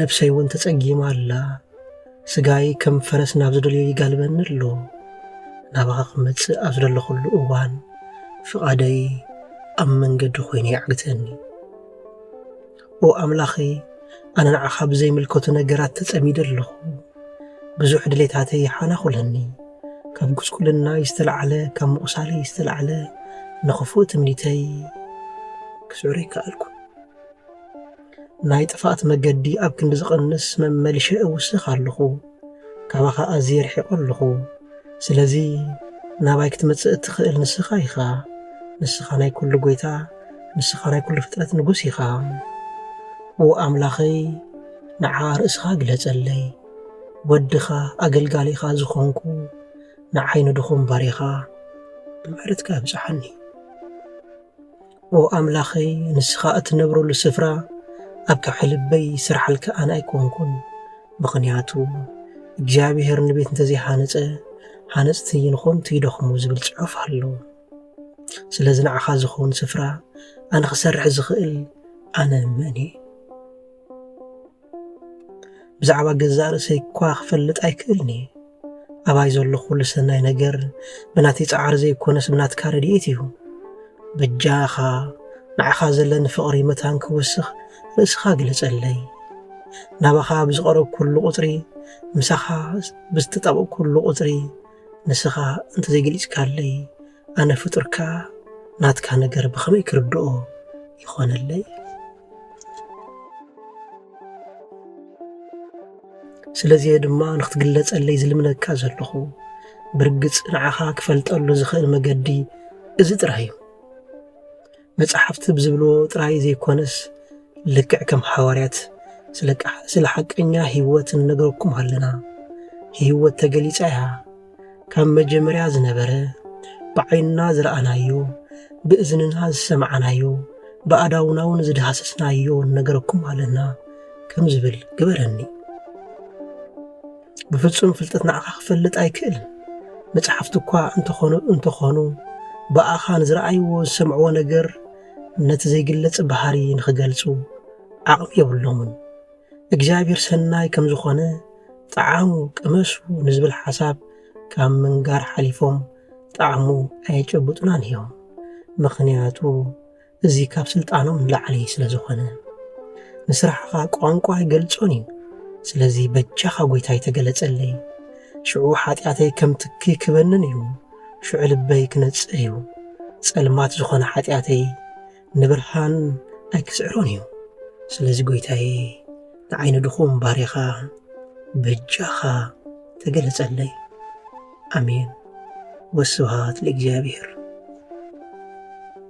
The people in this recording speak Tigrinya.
ነፍሰይ እውን ተጸጊማ ኣላ ስጋይ ከም ፈረስ ናብ ዝደልዮ ይጋልበኒ ኣሎ ናባኻ ክመጽእ ኣብ ዝደለኹሉ እዋን ፍቓደይ ኣብ መንገዲ ኮይኑ ይዓግተኒ ኦ ኣምላኸይ ኣነ ንዓኻ ብዘይምልከቱ ነገራት ተጸሚደ ኣለኹ ብዙሕ ድሌታተይ ይሓናኹለኒ ካብ ጉስቁልና ዝተላዕለ ካብ ምቑሳለይ ዝተላዕለ ንኽፉእ ትምኒተይ ክስዕሩ ይከኣልኩ ናይ ጥፍኣት መገዲ ኣብ ክንዲ ዝቕንስ መመሊሸ እውስኽ ኣለኹ። ካባኻ ኣዝየ ርሒቐ ኣለኹ። ስለዚ ናባይ ክትመጽእ እትኽእል ንስኻ ኢኻ። ንስኻ ናይ ኩሉ ጎይታ፣ ንስኻ ናይ ኩሉ ፍጥረት ንጉስ ኢኻ። ኦ ኣምላኸይ ንዓ ርእስኻ ግለጸለይ። ወድኻ ኣገልጋሊኻ ዝኾንኩ ንዓይ ንድኹም ባሪኻ ብምሕረትካ ኣብጽሓኒ። ኦ ኣምላኸይ ንስኻ እትነብረሉ ስፍራ ኣብ ከብሒ ልበይ ስርሓልካ ኣነ ኣይኮንኩን ምኽንያቱ እግዚኣብሔር ንቤት እንተዘይሃነፀ ሃነፅቲ ንኾንቱ ይደኽሙ ዝብል ፅሑፍ ኣሎ ስለዚ ንዓኻ ዝኸውን ስፍራ ኣነ ክሰርሕ ዝኽእል ኣነ መን እየ ብዛዕባ ገዛእ ርእሰይ እኳ ክፈልጥ ኣይክእልን እየ ኣባይ ዘሎ ኩሉ ሰናይ ነገር ብናተይ ፃዕሪ ዘይኮነስ ብናትካ ረድኤት እዩ በጃኻ ንዓኻ ዘለኒ ፍቕሪ መታን ክውስኽ ርእስኻ ግለጸለይ ናባኻ ብዝቐረብ ኩሉ ቁፅሪ ምሳኻ ብዝተጣበቕ ኩሉ ቁፅሪ ንስኻ እንተዘይገሊፅካለይ ኣነ ፍጡር ከኣ ናትካ ነገር ብኸመይ ክርድኦ ይኾነለይ? ስለዚ እየ ድማ ንክትግለጸለይ ዝልምነካ ዘለኹ። ብርግጽ ንዓኻ ክፈልጠሉ ዝኽእል መገዲ እዚ ጥራይ እዩ። መጻሕፍቲ ብዝብልዎ ጥራይ ዘይኮነስ ልክዕ ከም ሓዋርያት ስለ ሓቀኛ ህይወት እንነግረኩም ኣለና። ህይወት ተገሊጻ እያ። ካብ መጀመርያ ዝነበረ ብዓይንና ዝረኣናዮ፣ ብእዝንና ዝሰማዕናዮ፣ ብኣእዳውና እውን ዝዳህሰስናዮ ንነግረኩም ኣለና ከም ዝብል ግበረኒ። ብፍጹም ፍልጠት ንዓኻ ክፈልጥ ኣይክእልን። መጽሓፍቲ እኳ እንተኾኑ እንተኾኑ ብኣኻ ንዝረኣይዎ ዝሰምዕዎ ነገር ነቲ ዘይግለጽ ባህሪ ንኽገልጹ ዓቕሚ የብሎምን። እግዚኣብሔር ሰናይ ከም ዝኾነ ጣዓሙ ቅመሱ ንዝብል ሓሳብ ካብ ምንጋር ሓሊፎም ጣዕሙ ኣየጨብጡናን እዮም። ምኽንያቱ እዚ ካብ ስልጣኖም ንላዕሊ ስለ ዝኾነ። ንስራሕኻ ቋንቋ ኣይገልጾን እዩ ስለዚ በጃኻ ጎይታይ ተገለጸለይ ሽዑ ሓጢኣተይ ከም ትኪ ክበንን እዩ ሽዑ ልበይ ክነጽህ እዩ ጸልማት ዝኾነ ሓጢኣተይ ንብርሃን ኣይክስዕሮን እዩ ስለዚ ጎይታዬ ንዓይ ንድኹም ባርያኻ በጃኻ ተገለጸለይ ኣሜን ወስብሃት ለእግዚኣብሔር